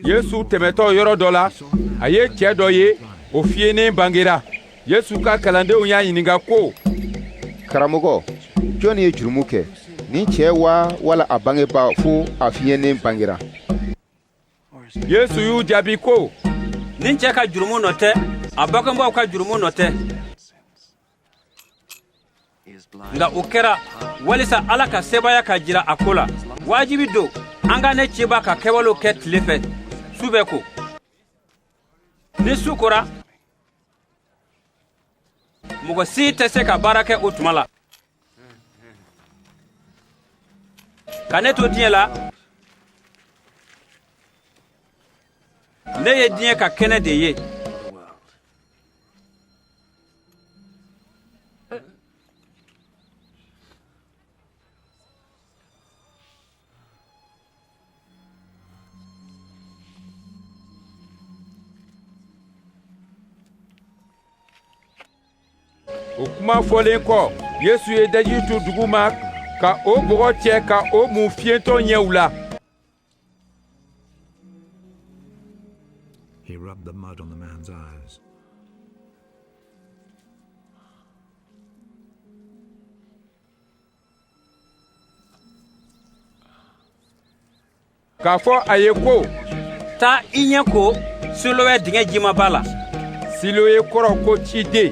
yesu tɛmɛtɔ yɔrɔ dɔ la a ye cɛɛ dɔ ye o fiyenen bangera yesu ka kalandenw y'a ɲininka ko karamɔgɔ jɔn ye jurumu kɛ nin cɛɛ wa wala a bangebaa fo a fiyenen bangera yesu y'u jaabi ko nin cɛ ka jurumu nɔ tɛ a bangebaaw ka jurumu nɔ tɛ nka o kɛra walisa ala ka sebaaya ka jira a ko la wajibi don an ka ne cibaa ka kɛwalew kɛ tile fɛ su bɛ ko ni su kora mɔgɔ si tɛ se ka baara kɛ o tuma la ka ne to diɲɛ la ne ye diɲɛ ka kɛnɛ de ye o kuma fɔlen kɔ yesu ye daji tu dugu ma ka o bɔgɔ cɛ ka o mun fiyentɔ ɲɛw la He rubbed the mud on the man's eyes. k'a fɔ a ye ko taa i ɲɛ ko siloe dingɛ jimaba la siloe kɔrɔ ko ciden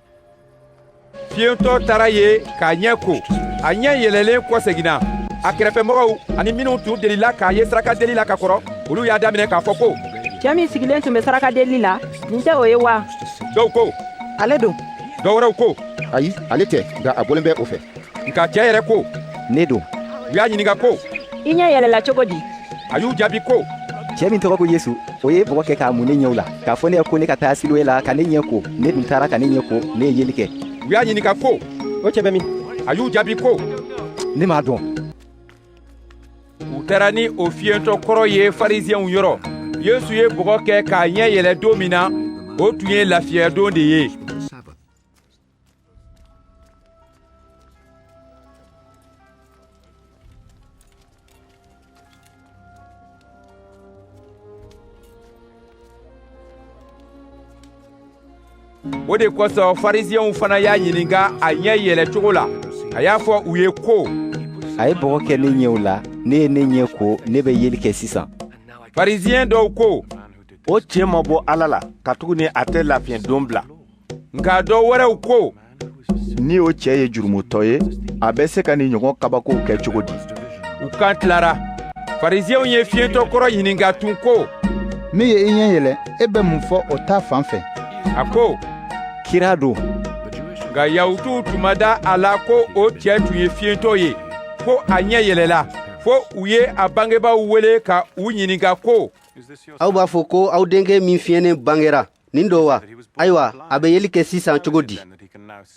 fiyentɔ taara yen k'a ɲɛ ko a ɲɛ yɛlɛlen kɔseginna a kɛrɛfɛmɔgɔw ani minnu tun delila k'a ye saraka deli la ka kɔrɔ olu y'a daminɛ k'a fɔ ko cɛɛ min sigilen tun bɛ saraka deli la nin tɛ o ye wa dɔw ko ale don dɔ wɛrɛw ko ayi ale tɛ nka a bɔlen bɛ o fɛ nka cɛɛ yɛrɛ ko ne don u y'a ɲininka ko i ɲɛ yɛlɛla cogo di a y'u jaabi ko cɛɛ min tɔgɔ ko yesu o ye bɔgɔ kɛ k'a mun ne ɲɛw la k'a fɔ ne ye ko ne ka taa siloe la ka ne ɲɛ ko ne dun taara ka ne ɲɛ ko ne ye yeli kɛ u y'a ɲininka ko o cɛɛ bɛ min a y'u jaabi ko ne m'a dɔn u taara ni o fiyentɔ kɔrɔ ye fariziyɛnw yɔrɔ yesu ye bɔgɔ kɛ k'a ɲɛ yɛlɛ don min na o tun ye lafiɲɛdon de ye o de kosɔn farisiɲɛw fana y'a ɲininka a ɲɛ yɛlɛ cogo la a y'a fɔ u ye ko a ye bɔgɔ kɛ ne ɲɛw la ne ye ne ɲɛ ko ne bɛ yeli kɛ sisan farisiɲɛ dɔw ko o cɛ ma bɔ ala la katuguni a tɛ lafiɲɛ don bila nka dɔ wɛrɛw ko ni o cɛ ye jurumutɔ ye a bɛ se ka nin ɲɔgɔn kabakow kɛ cogo di u kan tilara farisiɲɛw ye fiyentɔ kɔrɔ ɲininka tun ko min ye i ɲɛ yɛlɛ e bɛ mun fɔ o ta fan fɛ a ko kira don nka yahutuw tun ma da a la ko o cɛ tun ye fiyentɔ ye ko a ɲɛ yɛlɛla fo u ye a bangebaaw wele ka u ɲininka ko aw b'a fɔ ko aw denkɛ min fiyennen bangera nin don wa ayiwa a bɛ yeli kɛ sisan cogo di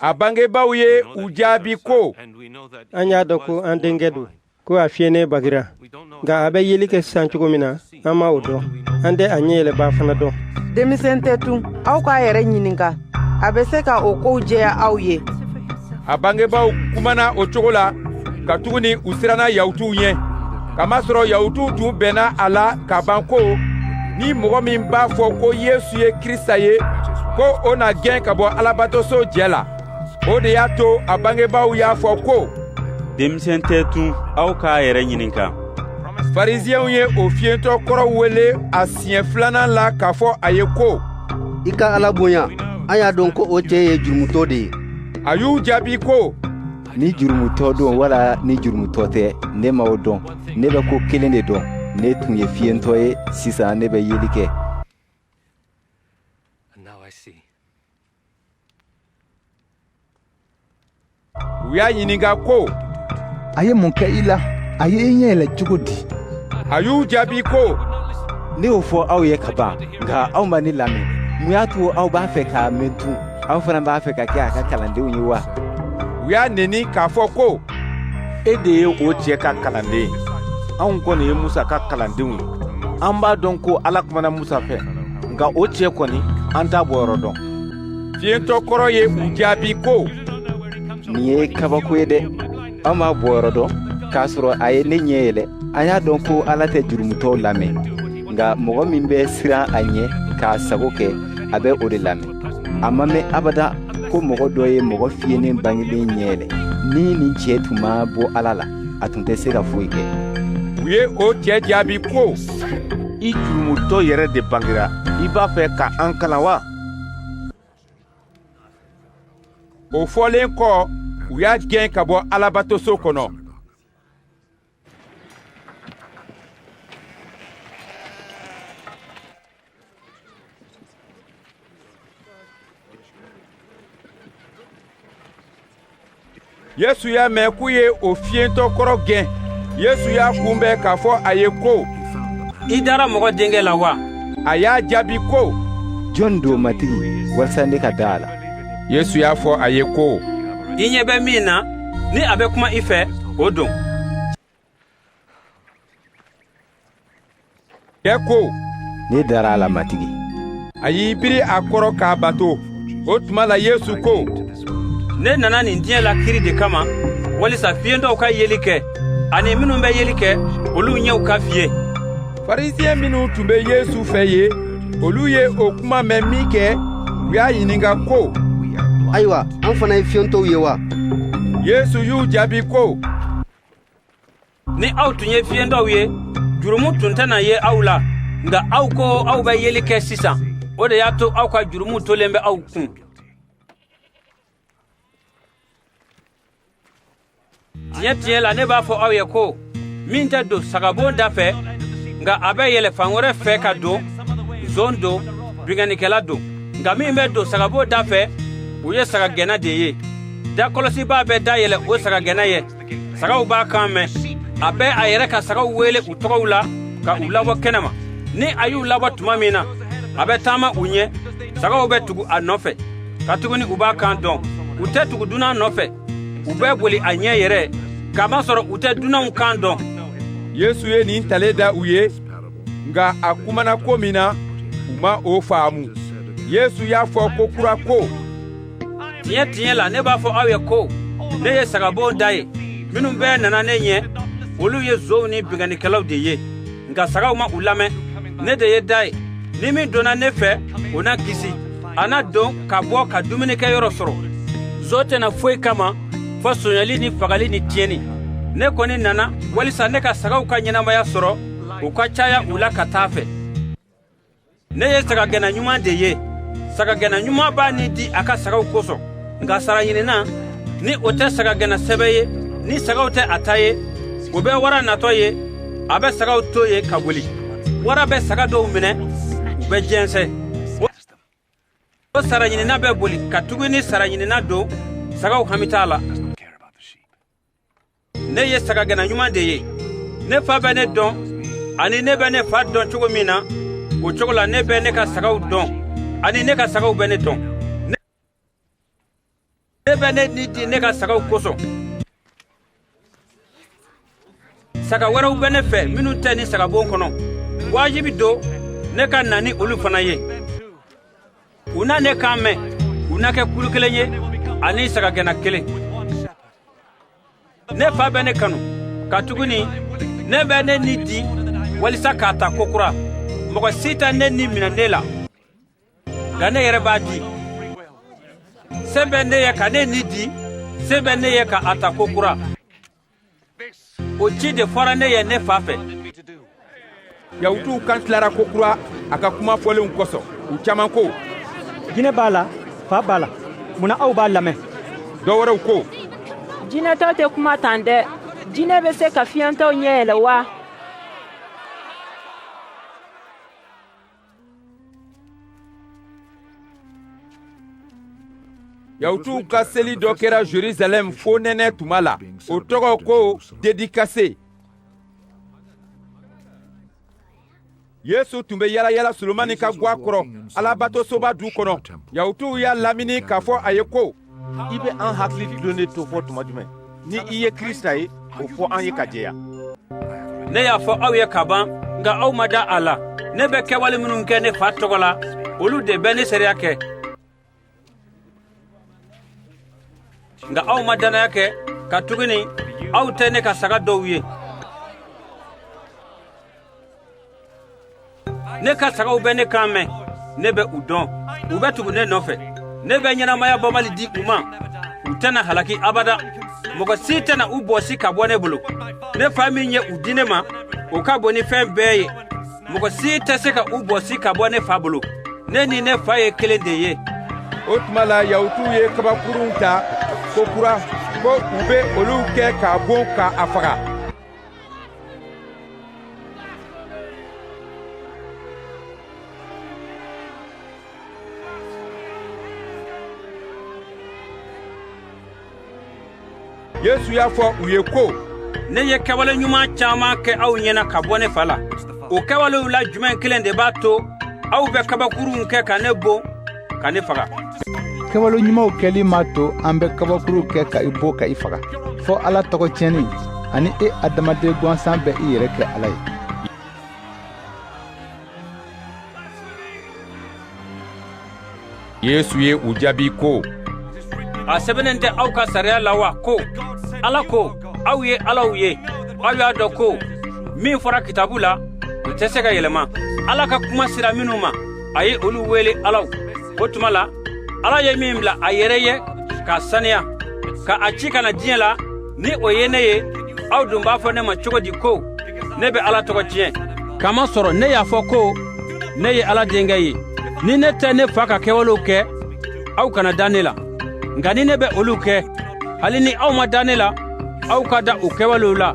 a bangebaaw ye u jaabi ko an y'a dɔn ko an denkɛ don ko a fiyennen bangera nka a bɛ yeli kɛ sisan cogo min na an ma o dɔn an tɛ a ɲɛ yɛlɛbaa fana dɔn denmisɛn tɛ tun aw k'a yɛrɛ ɲininka a bɛ se ka o kow jɛya aw ye a bangebaaw kumana o cogo la katuguni u siranna yahutuw ɲɛ K'a masɔrɔ yahutuw tun bɛnna a la ka ban ko, ni mɔgɔ min b'a fɔ ko Yesu ye Krisita ye, ko o na gɛn ka bɔ Alabatoso jɛ la. O de y'a to a bangebaaw y'a fɔ ko, Denmisɛn tɛ tun, aw k'a yɛrɛ ɲininka. Farisiɲɛw ye o fiyentɔ kɔrɔ wele a siɲɛ filanan la k'a fɔ a ye ko, I ka Ala bonya, an y'a dɔn ko o cɛ ye jurumutɔ de ye. A y'u jaabi ko, ni jurumutɔ don wala ni jurumutɔ tɛ ne ma o dɔn ne bɛ ko kelen de dɔn ne tun ye fiyentɔ ye sisan ne bɛ yeli kɛ u y'a ɲininka ko a ye mun kɛ i la a ye i ɲɛ yɛlɛ cogo di a y'u jaabi ko ne y'o fɔ aw ye ka ban nka aw ma ne lamɛn mun y'a to aw b'a fɛ k'a mɛn tun aw fana b'a fɛ ka kɛ a ka kalandenw ye wa u y'a neni k'a fɔ ko e de ye o cɛ ka kalanden ye anw kɔni ye musa ka kalandenw ye an b'a dɔn ko ala kumana musa fɛ nka o cɛ kɔni an t'a bɔyɔrɔ dɔn fiyentɔ kɔrɔ ye u jaabi ko nin ye kabako ye dɛ aw m'a bɔyɔrɔ dɔn k'a sɔrɔ a ye ne ɲɛ yɛlɛ an y'a dɔn ko ala tɛ jurumutɔw lamɛn nka mɔgɔ min bɛ siran a ɲɛ k'a sago kɛ a bɛ o de lamɛn a ma mɛn abada ko mɔgɔ dɔ ye mɔgɔ fiyennen bangelen ɲɛ yɛlɛ ni nin cɛ tun ma bɔ ala la a tun tɛ se ka foyi kɛ u ye o cɛ jaabi ko i jurumutɔ yɛrɛ de bangera i b'a fɛ ka an kalan wa o fɔlen kɔ u y'a gɛn ka bɔ alabatoso kɔnɔ yesu y'a mɛn k'u ye o fiyentɔ kɔrɔ gɛn yesu y'a kunbɛn k'a fɔ a ye ko i dara mɔgɔ denkɛ la wa a y'a jaabi ko jɔn don matigi walisa ne ka da a la yesu y'a fɔ a ye ko i ɲɛ bɛ min na ni a bɛ kuma i fɛ o don cɛ ko ne dara a la matigi a y'i biri a kɔrɔ k'a bato o tuma la yesu ko ne nana nin diɲɛ la kiri de kama walisa fiyentɔw ka yeli kɛ ani minnu bɛ yeli kɛ olu ɲɛw ka fiye farisiyɛn minnu tun bɛ yesu fɛ yen olu ye o kuma mɛn minkɛ u y'a ɲininka ko ayiwa an fana ye fiyentɔw ye wa yesu y'u jaabi ko ni aw tun ye fiyentɔw ye jurumu tun tɛna ye aw la nka aw ko aw bɛ yeli kɛ sisan o de y'a to aw ka jurumu tolen bɛ aw kun tiɲɛ tiɲɛ la ne b'a fɔ aw ye ko min tɛ don sagabon da fɛ nka a bɛ yɛlɛ fan wɛrɛ fɛ ka don zon don binkannikɛla don nka min bɛ don sagabon da fɛ o ye sagagɛnna de ye da kɔlɔsibaa bɛ da yɛlɛ o sagagɛnna ye sagaw b'a kan mɛn a bɛ a yɛrɛ ka sagaw wele u tɔgɔw la ka u labɔ kɛnɛma ni a y'u labɔ tuma min na a bɛ taama u ɲɛ sagaw bɛ tugu a nɔfɛ katuguni u b'a kan dɔn u tɛ tugu dunan nɔfɛ u bɛ boli a ɲɛ yɛrɛ k'a masɔrɔ u tɛ dunanw kan dɔn yesu ye nin talen da u ye nka a kumana ko min na u ma o faamu yesu y'a fɔ kokura ko tiɲɛ tiɲɛ la ne b'a fɔ aw ye ko ne ye sagabon da ye minnu bɛɛ nana ne ɲɛ olu ye zonw ni binkannikɛlaw de ye nka sagaw ma u lamɛn ne de ye da ye ni min donna ne fɛ o na kisi a na don ka bɔ ka dumunikɛ yɔrɔ sɔrɔ zon tɛ na foyi kama fo sonyali ni fagali ni tiɲɛni ne kɔni nana walisa ne ka sagaw ka ɲɛnamaya sɔrɔ o ka caya u la ka taa fɛ ne ye sagagɛnna ɲuman de ye sagagɛnna ɲuman b'a ni di a ka sagaw kosɔn nka sara ɲinina ni o tɛ sagagɛnna sɛbɛ ye ni sagaw tɛ a ta ye o bɛ wara natɔ ye a bɛ sagaw to yen ka boli wara bɛ saga dɔw minɛ u bɛ jɛnsɛn o sara ɲinina bɛ boli katuguni sara ɲinina don sagaw hami t'a la ne ye sagagɛnna ɲuman de ye ne fa bɛ ne dɔn ani ne bɛ ne fa dɔn cogo min na o cogo la ne bɛ ne ka sagaw dɔn ani ne ka sagaw bɛ ne dɔn ne bɛ ne ni di ne ka sagaw kosɔn saga wɛrɛw bɛ ne fɛ minnu tɛ nin sagabon kɔnɔ wajibi don ne ka na ni olu fana ye u na ne kan mɛn u na kɛ kulu kelen ye ani sagagɛnna kelen ne fa bɛ ne kanu katuguni ne bɛ ne ni di walisa k'a ta kokura mɔgɔ si tɛ ne ni minɛ ne la nka ne yɛrɛ b'a di se bɛ ne ye ka ne ni di se bɛ ne ye ka a ta kokura o ci de fɔra ne ye ne fa fɛ yahutuw kan tilara ko kura a ka kuma fɔlenw kosɔn u caman ko jinɛ b'a la fa b'a la mun na aw b'a lamɛn dɔ wɛrɛw ko jinɛtɔ tɛ kuma tan dɛ jinɛ bɛ se ka fiyɛntɔw ɲɛ yɛlɛ wa Yahutuw ka seli dɔ kɛra Jerusalɛm fonɛnɛ tuma la, o tɔgɔ ko Dedikase. Yesu tun bɛ yalayala Solomani ka gwa kɔrɔ Alabatosoba du kɔnɔ. Yahutuw y'a lamini k'a fɔ a ye ko, i bɛ an hakili dulonnen to fo tuma jumɛn ni i ye krisita ye o fɔ an ye ka jɛya ne y'a fɔ aw ye ka ban nka aw ma da a la ne bɛ kɛwale minnu kɛ ne fa tɔgɔ la olu de bɛ ne seereya kɛ nka aw ma dannaya kɛ katuguni aw tɛ ne ka saga dɔw ye ne ka sagaw bɛ ne kan mɛn ne bɛ u dɔn u bɛ tugu ne nɔfɛ ne bɛ ɲɛnamaya banbali di u ma u tɛna halaki abada mɔgɔ si tɛna u bɔsi ka bɔ ne bolo ne fa min ye u di ne ma o ka bon ni fɛn bɛɛ ye mɔgɔ si tɛ se ka u bɔsi ka bɔ ne fa bolo ne ni ne fa ye kelen de ye o tuma la yahutuw ye kabakurunw ta ko kura ko u bɛ olu kɛ k'a bon ka a faga yesu y'a fɔ u ye ko ne ye kɛwale ɲuman caman kɛ aw ɲɛna ka bɔ ne fa la o kɛwalew la jumɛn kelen de b'a to aw bɛ kabakurunw kɛ ka ne bon ka ne faga kɛwale ɲumanw kɛli m'a to an bɛ kabakuru kɛ ka i bon ka i faga fo ala tɔgɔ tiɲɛni ani e adamaden gwansan bɛ i yɛrɛ kɛ ala ye yesu ye u jaabi ko a sɛbɛnnen tɛ aw ka sariya la wa ko ala ko aw ye alaw ye aw y'a dɔn ko min fɔra kitabu la o tɛ se ka yɛlɛma ala ka kuma sera minnu ma a ye olu wele alaw o tuma la ala ye min bila a yɛrɛ ye k'a saniya ka a ci ka na diɲɛ la ni o ye ne ye aw dun b'a fɔ ne ma cogo di ko ne bɛ ala tɔgɔ tiɲɛ k'a masɔrɔ ne y'a fɔ ko ne ye ala denkɛ ye ni ne tɛ ne fa ka kɛwalew kɛ aw kana da ne la nka ni ne bɛ olu kɛ hali ni aw ma da ne la aw ka da o kɛwalew la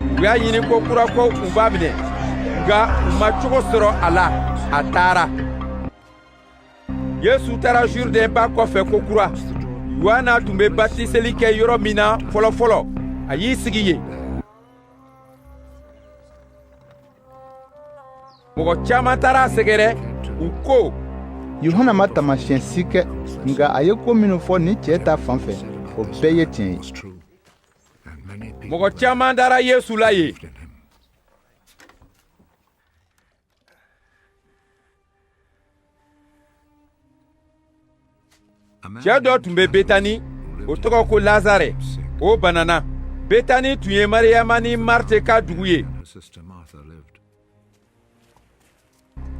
u y'a ɲini kokura ko u b'a minɛ nka u ma cogo sɔrɔ a la a taara yesu taara jurudɛn ba kɔfɛ kokura yuhana tun bɛ batiseli kɛ yɔrɔ min na fɔlɔfɔlɔ a y'i sigi yen mɔgɔ caman taara a sɛgɛrɛ u ko yuhana ma taamasiyɛn si kɛ nka a ye ko minnu fɔ nin cɛ ta fan fɛ o bɛɛ ye tiɲɛ ye mɔgɔ caman dara yesu la yen cɛ dɔ tun bɛ betani o tɔgɔ ko lazare o banana betani tun ye mariyama ni marte ka dugu ye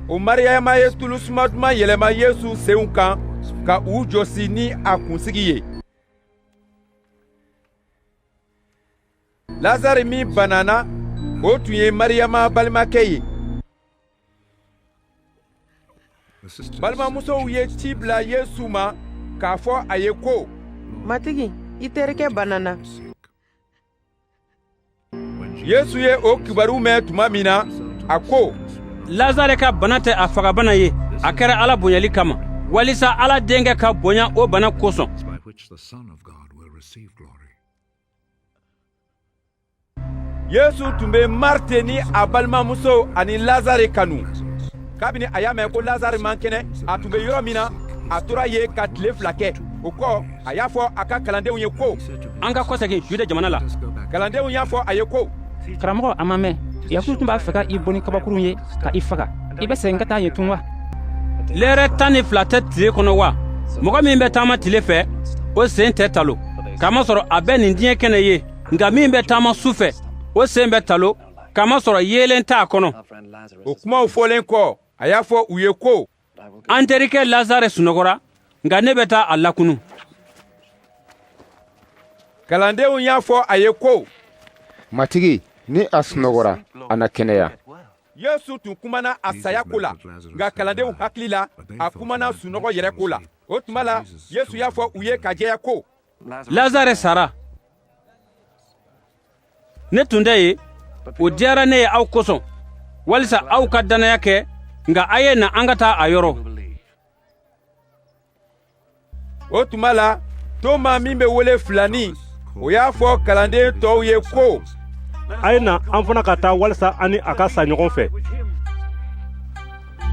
o mariyama ye tulu suma duman yɛlɛma yesu senw kan ka u jɔsi ni a kunsigi ye lazari min banana o tun ye mariyama balimakɛ ye balimamusow ye ci bila yesu ma k'a fɔ a ye ko matigi i terikɛ banana yesu ye o kibaru mɛn tuma min na a ko lazare ka bana tɛ a fagabana ye a kɛra ala bonyali kama walisa ala denkɛ ka bonya o bana kosɔn yesu tun bɛ marte ni a balimamuso ani lazare kanu kabini a y'a mɛn ko lazare man kɛnɛ a tun bɛ yɔrɔ min na a tora yen ka tile fila kɛ o kɔ a y'a fɔ a ka kalandenw ye ko an ka kɔsegin juda jamana la kalandenw y'a fɔ a ye ko karamɔgɔ a ma mɛn yahuduw tun b'a fɛ ka i bon ni kabakurunw ye ka i faga i bɛ segin ka taa yen tun wa lɛrɛ tan ni fila tɛ tile kɔnɔ wa mɔgɔ min bɛ taama tile fɛ o sen tɛ talon k'a masɔrɔ a bɛ nin diɲɛ kɛnɛ ye nka min bɛ taama su fɛ o sen bɛ talon k'a masɔrɔ yeelen t'a kɔnɔ o kumaw fɔlen kɔ a y'a fɔ u ye ko an terikɛ lazare sunɔgɔra nka ne bɛ taa a lakunu kalandenw y'a fɔ a ye ko matigi ni a sunɔgɔra a na kɛnɛya yesu tun kumana a saya ko la nka kalandenw hakili la a kumana sunɔgɔ yɛrɛ ko la o tuma la yesu y'a fɔ u ye ka jɛya ko lazare sara ne tun tɛ yen o diyara ne ye aw kosɔn walisa aw ka dannaya kɛ nka a ye na an ka taa a yɔrɔ o tuma la toma min bɛ wele filani o y'a fɔ kalanden tɔw ye ko a ye na an fana ka taa walisa an ni a ka sa ɲɔgɔn fɛ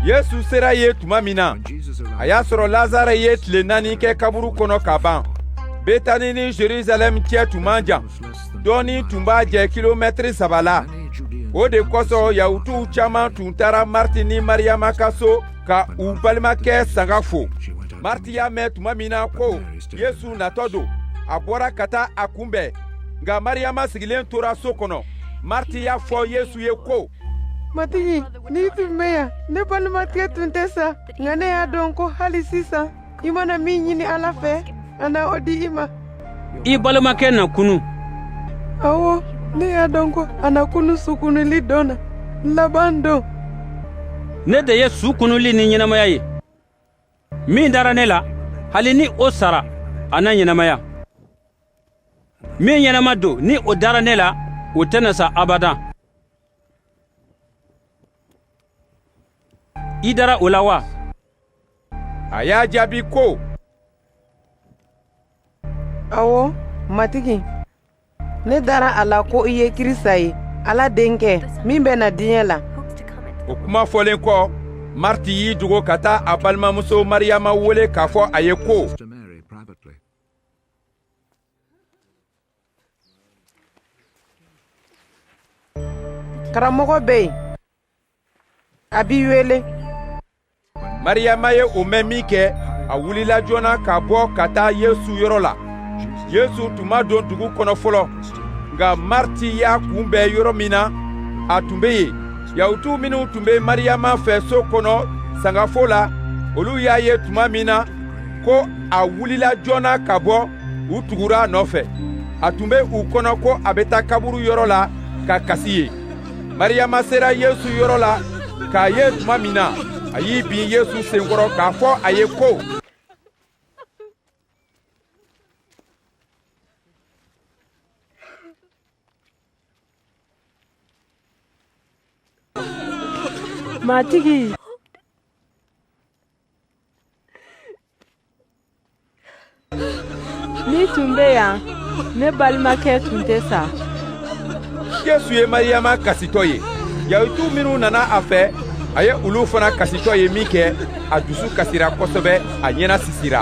yesu sera yen tuma min na a y'a sɔrɔ lazare ye tile naani kɛ kaburu kɔnɔ ka ban betani ni jerusalɛm cɛ tun man jan dɔɔni tun b'a jɛ kilomɛtiri saba la o de kosɔn yahutuw caaman tun taara marti ni mariyama ka so ka u balimakɛ sanga fo marti y'a mɛn tuma min na ko yesu natɔ don a bɔra ka taa a kunbɛn nka mariyama sigilen tora so kɔnɔ marti y'a fɔ yesu ye ko matigi n'i tun bɛ yan ne balimakɛ tun tɛ sa nka ne y'a dɔn ko hali sisan i mana min ɲini ala fɛ a na o di i ma i balimakɛ na kunu awɔ ne y'a dɔn ko a na kunu su kunuli don na laban don ne de ye su kunuli ni ɲɛnamaya ye min dara ne la hali ni o sara a na ɲɛnamaya min ɲɛnama don ni o dara ne la o tɛna sa abadan i dara o la wa a y'a jaabi ko awɔ matigi ne dara a la ko i ye krisita ye ala denkɛ min bɛ na diɲɛ la o kuma fɔlen kɔ mariti y'i dogo ka taa a balimamuso mariyama wele k'a fɔ a ye ko karamɔgɔ bɛ yen a b'i wele mariyama ye o mɛn minkɛ a wulila joona ka bɔ ka taa yesu yɔrɔ la yesu tun ma don dugu kɔnɔ fɔlɔ nka mariti y'a kunbɛn yɔrɔ min na a tun bɛ yen yahutu minnu tun bɛ mariyama fɛ so kɔnɔ sangafo la olu y'a ye tuma min na ko a wulila joona ka bɔ u tugura a nɔfɛ a tun bɛ u kɔnɔ ko a bɛ taa kaburu yɔrɔ la ka kasi yen mariyama sera yesu yɔrɔ la k'a ye tuma min na a y'i bin yesu sen kɔrɔ k'a fɔ a ye ko matigi N'i tun bɛ yan ne balimakɛ tun tɛ sa yesu ye mariyama kasitɔ ye yahutu minnu nana a fɛ a ye olu fana kasitɔ ye minkɛ a dusu kasira kosɛbɛ a ɲɛnasisira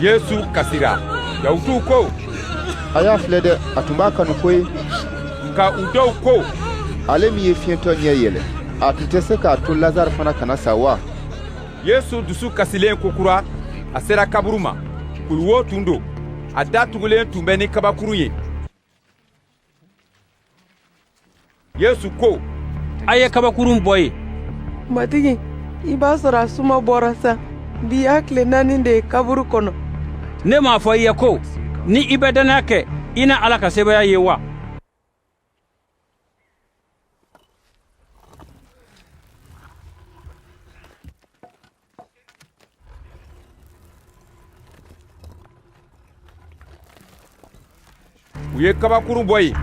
yesu kasira yahutuw ko a y'a filɛ dɛ a tun b'a kanu ko ye nka u dɔw ko ale min ye fiyentɔ ɲɛ yɛlɛ a tun tɛ se k'a to lazare fana kana sa wa yesu dusu kasilen kokura a sera kaburu ma kuluwo tun don a da tugulen tun bɛ ni kabakuru ye yesu ko a ye kabakurun bɔ yen matigi i b'a sɔrɔ a suma bɔra sa bi y'a tile naani de ye kaburu kɔnɔ ne m'a fɔ i ye ko ni i bɛ dannaya kɛ i na ala ka sebaaya ye wa u ye kabakurun bɔ yen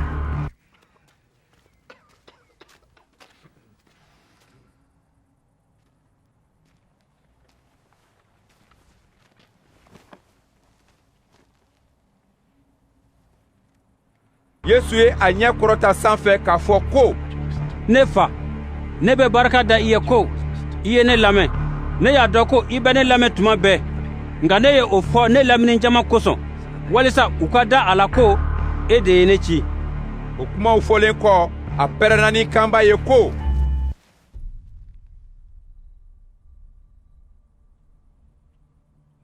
yesu ye a ɲɛ kɔrɔta san fɛ k'a fɔ ko ne fa ne bɛ barika da i ye ko i ye ne lamɛn ne y'a dɔn ko i bɛ ne lamɛn tuma bɛɛ nka ne ye o fɔ ne lamini jama kosɔn walisa u ka da a la ko e de ye ne ci o kumaw fɔlen kɔ a pɛrɛnna ni kanba ye ko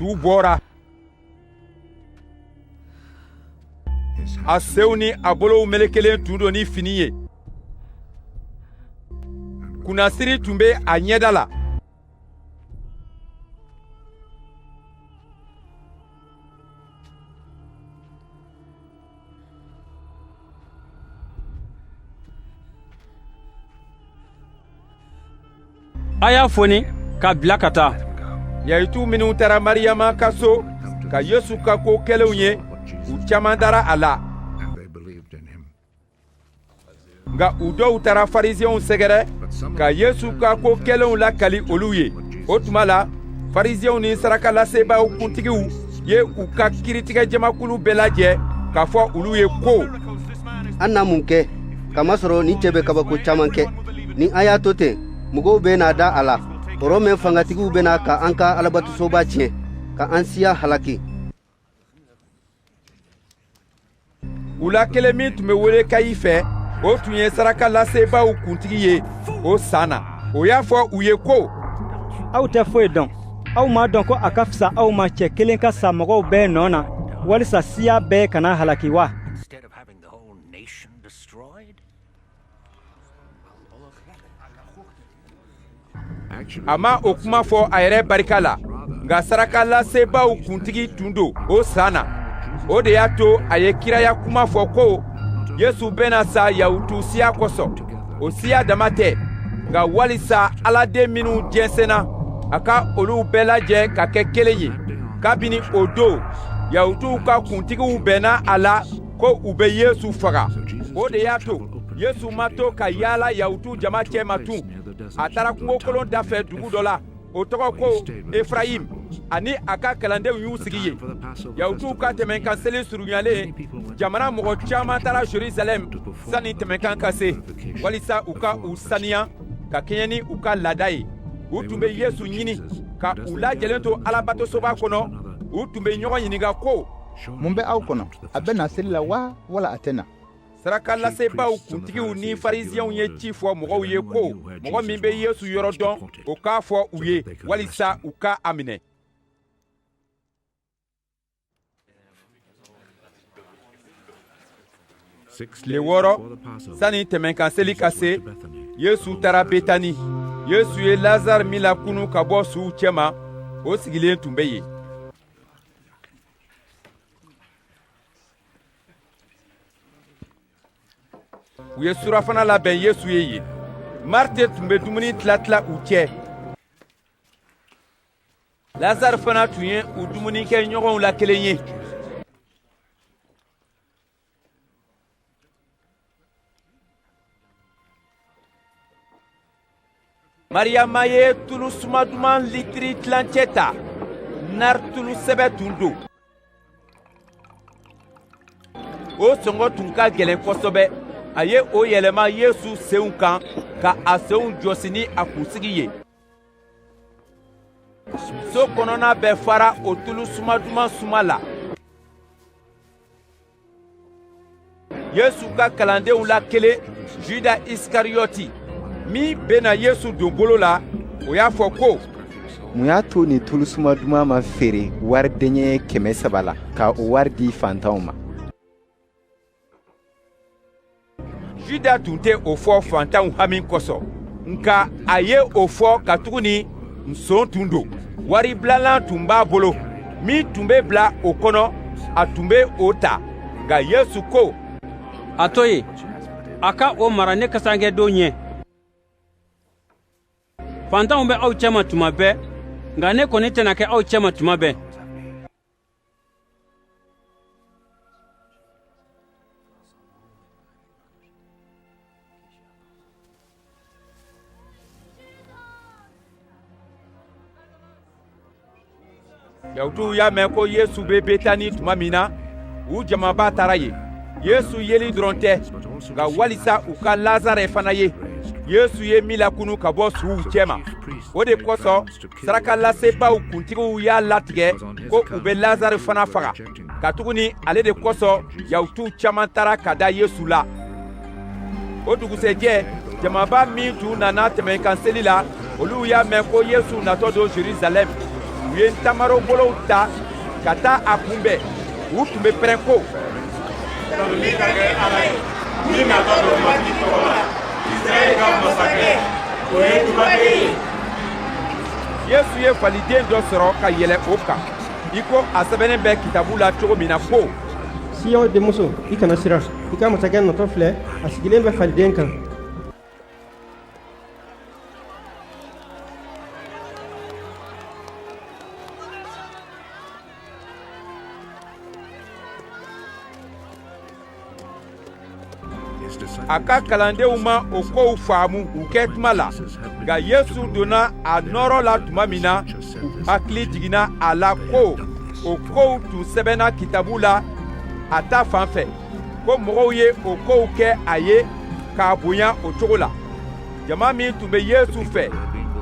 Su bɔra a senw ni a bolow melekelen tun don ni fini ye kunnasiri tun bɛ a ɲɛda la a y'a foni k'a bila ka taa yahutu minnu taara mariyama ka so ka yesu ka ko kɛlenw ye u caman dara a la nka u dɔw taara farisiɛnw sɛgɛrɛ ka yesu ka ko kɛlenw lakali olu ye o tuma la farisiɛnw ni sarakalasebaaw kuntigiw ye u ka kiritigɛjamakulu bɛɛ lajɛ k'a fɔ olu ye ko an na mun kɛ kamasɔrɔ nin cɛ bɛ kabako caman kɛ ni an y'a to ten mɔgɔw bɛna da a la rɔmɛ fangatigiw bɛ na ka an ka alabatosoba tiɲɛ ka an siya halaki u la kelen min tun bɛ wele kayifɛ o tun ye sarakalasebaaw kuntigi ye o san na o y'a fɔ u ye ko aw tɛ foyi dɔn aw m'a dɔn ko a ka fisa aw ma cɛ kelen ka sa mɔgɔw bɛɛ nɔ na walisa siya bɛɛ kana halaki wa a ma o kuma fɔ a yɛrɛ barika la nka sarakalasebaaw kuntigi tun don o san na o de y'a to a ye kiraya kuma fɔ ko yesu bɛna sa yahutu siya kosɔn o siya dama tɛ nka walisa aladen minnu jɛnsɛnna a ka olu bɛɛ lajɛ ka kɛ kelen ye kabini o don yahutuw ka kuntigiw bɛnna a la ko u bɛ yesu faga o de y'a to yesu ma to ka yaala yahutu jama cɛma tugun a taara kungokolon dafɛ dugu dɔ la o tɔgɔ ko efrayim a ni a ka kalandenw y'u sigi yen yahutuw ka tɛmɛnkan seli surunyalen jamana mɔgɔ caman taara jerusalɛm sanni tɛmɛnkan ka se walisa u ka u saniya ka kɛɲɛ ni u ka laada ye u tun bɛ yesu ɲini ka u lajɛlen to alabatosoba kɔnɔ u tun bɛ ɲɔgɔn ɲininka ko mun bɛ aw kɔnɔ a bɛ na seli la wa wala a tɛ na sarakalasebaaw kuntigiw ni farisiɛnw ye ci fɔ mɔgɔw ye ko mɔgɔ min bɛ yesu yɔrɔ dɔn o k'a fɔ u ye walisa u ka a minɛ tile wɔɔrɔ sani tɛmɛnkan seli ka se yesu taara betani yesu ye lazare min lakunun ka bɔ suw cɛma o sigilen tun bɛ yen u ye surafana labɛn yesu ye yen marite tun bɛ dumuni tilatila u cɛ lazare fana tun ye u dumunikɛɲɔgɔnw la kelen ye mariyama ye tulu suma duman litiri tilancɛ ta nari tulu sɛbɛ tun don o sɔngɔ tun ka gɛlɛn kosɛbɛ a ye o yɛlɛma yesu senw kan ka a senw jɔsi ni a kunsigi ye so kɔnɔna bɛɛ fara o tulu suma duman suma la yesu ka kalandenw la kelen juda isikariyɔti min bɛna yesu don bolo la o y'a fɔ ko mun y'a to nin tulu suma duman ma feere wari deniyɛ kɛmɛ saba la ka o wari di fantanw ma juda tun tɛ o fɔ fantanw hami kosɔn nka a ye o fɔ katuguni nson tun don wari bilalan tun b'a bolo min tun bɛ bila o kɔnɔ a tun bɛ o ta nka yesu ko a to yen a ka o mara ne kasankɛdon ɲɛ fantanw bɛ aw cɛma tuma bɛɛ nka ne kɔni tɛna kɛ aw cɛma tuma bɛɛ Yahutuw y'a mɛn ko Yesu bɛ Betani tuma min na, u jamaba taara yen. Yesu yeli dɔrɔn tɛ, nka walisa u ka Lazarɛ fana ye, Yesu ye min lakunu ka bɔ suw cɛma, o de kosɔn sarakalasebaaw kuntigiw y'a latigɛ ko u bɛ lazarɛ fana faga katuguni ale de kosɔn yahutuw caman taara ka da yesu la o dugusɛjɛ jamaba min tun nana tɛmɛnkan seli la olu y'a mɛn ko yesu natɔ don jerusalɛm u ye ntamaro bolow ta ka taa a kunbɛn u tun bɛ pɛrɛn ko tanuni ka kɛ ala ye min natɔ don matigi tɔgɔ la israɛl ka masakɛ o ye dubaden ye yesu ye faliden dɔ sɔrɔ ka yɛlɛ o kan i ko a sɛbɛnnen bɛ kitabu la cogo min na ko siyɔn denmuso i kana siran i ka masakɛ natɔ filɛ a sigilen bɛ faliden kan a ka kalandenw ma o kow faamu u kɛ tuma la nka yesu donna a nɔɔrɔ la tuma min na u hakili jiginna a la ko o kow tun sɛbɛnna kitabu la a ta fan fɛ ko mɔgɔw ye o kow kɛ a ye k'a bonya o cogo la jama min tun bɛ yesu fɛ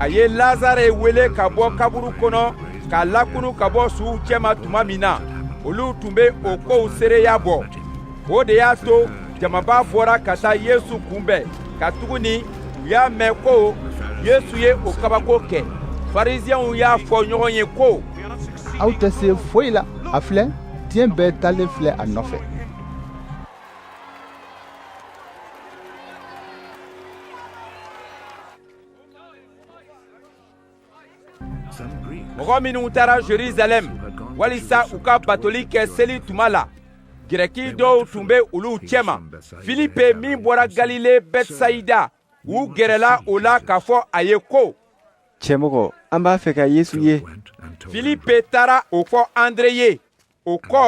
a ye lazare wele ka bɔ kaburu kɔnɔ k'a lakunu ka bɔ suw cɛma tuma min na olu tun bɛ o kow seereya bɔ o de y'a to jamaba bɔra ka taa yesu kunbɛn katuguni u y'a mɛn ko yesu ye o kabako kɛ fariziyɛnw y'a fɔ ɲɔgɔn ye ko aw tɛ se foyi la a filɛ diɲɛ bɛɛ taalen filɛ a nɔfɛ mɔgɔ minnu taara jerusalɛm walisa u ka batoli kɛ seli tuma la grɛki dɔw tun bɛ olu cɛma filipe min bɔra galile bɛtsaida u gɛrɛla o la k'a fɔ a ye ko cɛmɔgɔ an b'a fɛ ka yesu ye filipe taara o fɔ andre ye o kɔ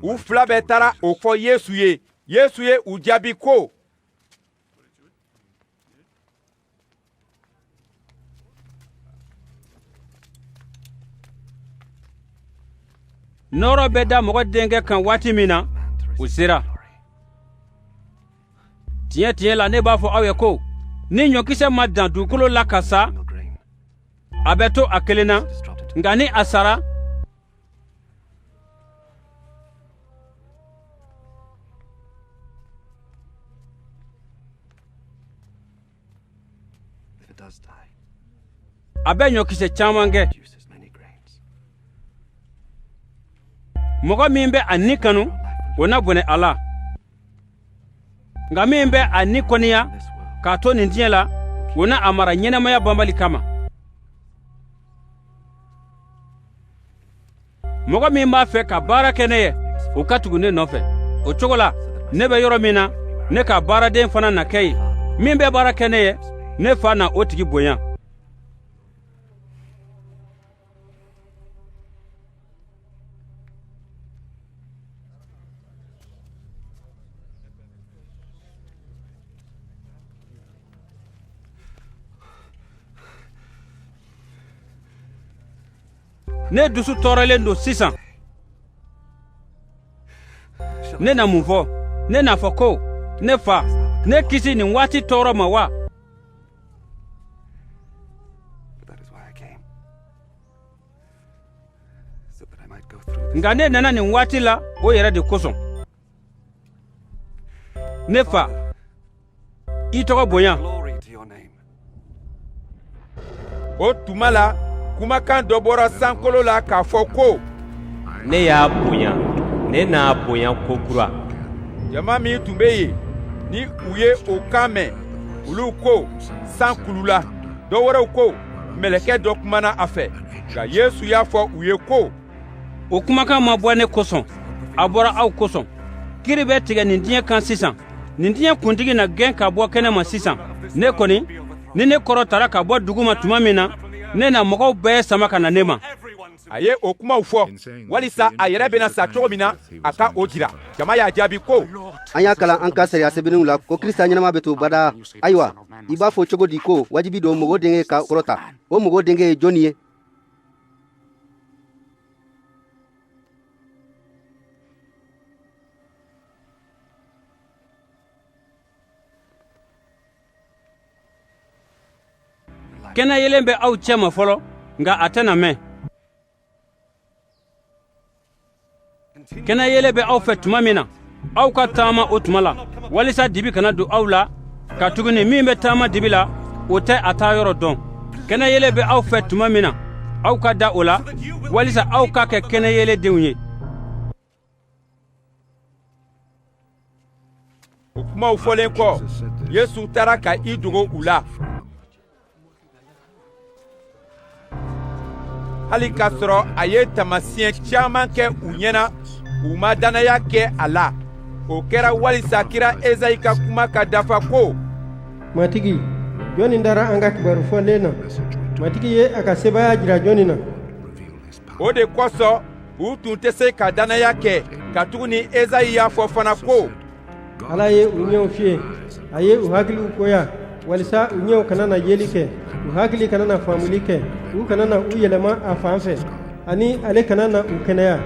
u fila bɛɛ taara o fɔ yesu ye yesu ye u jaabi ko nɔɔrɔ bɛ da mɔgɔ denkɛ kan waati min na o sera tiɲɛ tiɲɛ la ne b'a fɔ aw ye ko ni ɲɔkisɛ ma dan dugukolo la ka sa a bɛ to a kelen na nka ni a sara a bɛ ɲɔkisɛ caman kɛ mɔgɔ min bɛ a ni kanu o na bɔnɛ a la nka min bɛ a ni kɔniya k'a to nin diɲɛ la o na a mara ɲɛnamaya banbali kama mɔgɔ min b'a fɛ ka baara kɛ ne ye o ka tugu ne nɔfɛ o cogo la ne bɛ yɔrɔ min na ne ka baaraden fana na kɛ yen min bɛ baara kɛ ne ye ne fa na o tigi bonya ne dusu tɔɔrɔlen don sisan ne na mun fɔ ne n'a fɔ ko ne fa ne kisi nin waati tɔɔrɔ ma wa nka ne nana nin waati la o yɛrɛ de kosɔn ne fa i tɔgɔ bonya o tuma la kumakan dɔ bɔra sankolo la k'a fɔ ko ne y'a bonya ne n'a bonya ko kura jama min tun bɛ yen ni u ye o kan mɛn olu ko san kulula dɔ wɛrɛw ko mɛlɛkɛ dɔ kumana a fɛ nka yesu y'a fɔ u ye ko o kumakan ma bɔ ne kosɔn a bɔra aw kosɔn kiri bɛ tigɛ nin diɲɛ kan sisan nin diɲɛ kuntigi na gɛn ka bɔ kɛnɛ ma sisan ne kɔni ni ne kɔrɔtara ka bɔ dugu ma tuma min na ne na mɔgɔw bɛɛ sama ka na ne ma a ye o kumaw fɔ walisa a yɛrɛ bɛna sa cogo min na a ka o jira jama y'a jaabi ko an y'a kalan an ka sariya sɛbɛnniw la ko krisita ɲɛnama bɛ to badaa ayiwa i b'a fɔ cogo di ko wajibi don mɔgɔ denkɛ ka kɔrɔta o mɔgɔ denkɛ ye jɔnni ye kɛnɛyeelen bɛ aw cɛma fɔlɔ nka a tɛna mɛn kɛnɛyeelen bɛ aw fɛ tuma min na aw ka taama o tuma la walisa dibi kana don aw la katuguni min bɛ taama dibi la o tɛ a taayɔrɔ dɔn kɛnɛyeelen bɛ aw fɛ tuma min na aw ka da o la walisa aw ka kɛ kɛnɛyeelendenw ye o kumaw fɔlen kɔ yesu taara ka i dogo u la hali k'a sɔrɔ a ye taamasiyɛn caman kɛ u ɲɛ na u ma dannaya kɛ a la o kɛra walisa kira ezayi ka kuma ka dafa ko matigi jɔnni dara an ka kibaru fɔlen na matigi ye a ka sebaaya jira jɔnni na o de kosɔn u tun tɛ se ka dannaya kɛ katuguni Ezayi y'a fɔ fana ko Ala ye u ɲɛw fiye a ye u hakiliw koya walisa u ɲɛw kana na yeli kɛ u hakili kana na faamuli kɛ u kana na u yɛlɛma a fan fɛ ani ale kana na u kɛnɛya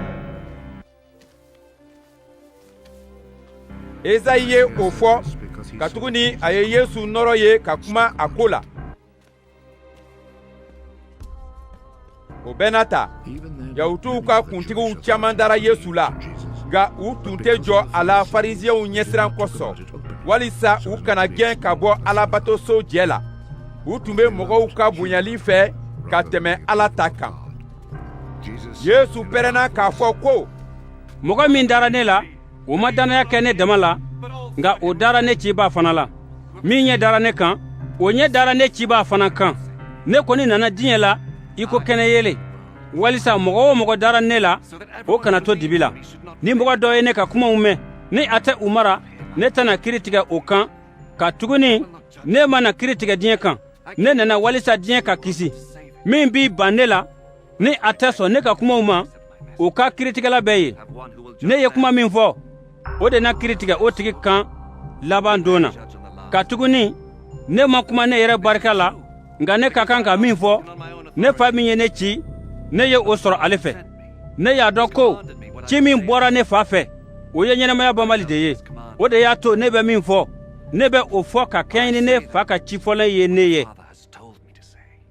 Ezayi ye o fɔ katuguni a ye Yesu nɔɔrɔ ye ka kuma a ko la o bɛɛ n'a ta yahutuw ka kuntigiw caman dara yesu la nka u tun tɛ jɔ a la farisiɲɛw ɲɛsiran kosɔn walisa u kana gɛn ka bɔ alabatoso jɛ la u tun bɛ mɔgɔw ka bonyali fɛ ka tɛmɛ ala ta kan yesu pɛrɛnna k'a fɔ ko mɔgɔ min dara ne la o ma dannaya kɛ ne dama la nka o dara ne cibaa fana la min ɲɛ dara ne kan o ɲɛ dara ne cibaa fana kan ne kɔni nana diɲɛ la i ko kɛnɛ yeelen walisa mɔgɔ o mɔgɔ dara ne la o kana to dibi la ni mɔgɔ dɔ ye ne ka kumaw mɛn ni a tɛ u mara ne tɛna kiri tigɛ o kan katuguni ne ma na kiri tigɛ diɲɛ kan ne nana walisa diɲɛ ka kisi min b'i ban ne la ni a tɛ sɔn ne ka kumaw ma o ka kiritigɛla bɛ yen ne ye kuma min fɔ o de na kiri tigɛ o tigi kan laban don na katuguni ne ma kuma ne yɛrɛ barika la nka ne ka kan ka min fɔ ne fa min ye ne ci ne ye o sɔrɔ ale fɛ ne y'a dɔn ko ci min bɔra ne fa fɛ o ye ɲɛnamaya banbali de ye o de y'a to ne bɛ min fɔ ne bɛ o fɔ ka kɛɲɛ ni ne fa ka ci fɔlen ye ne ye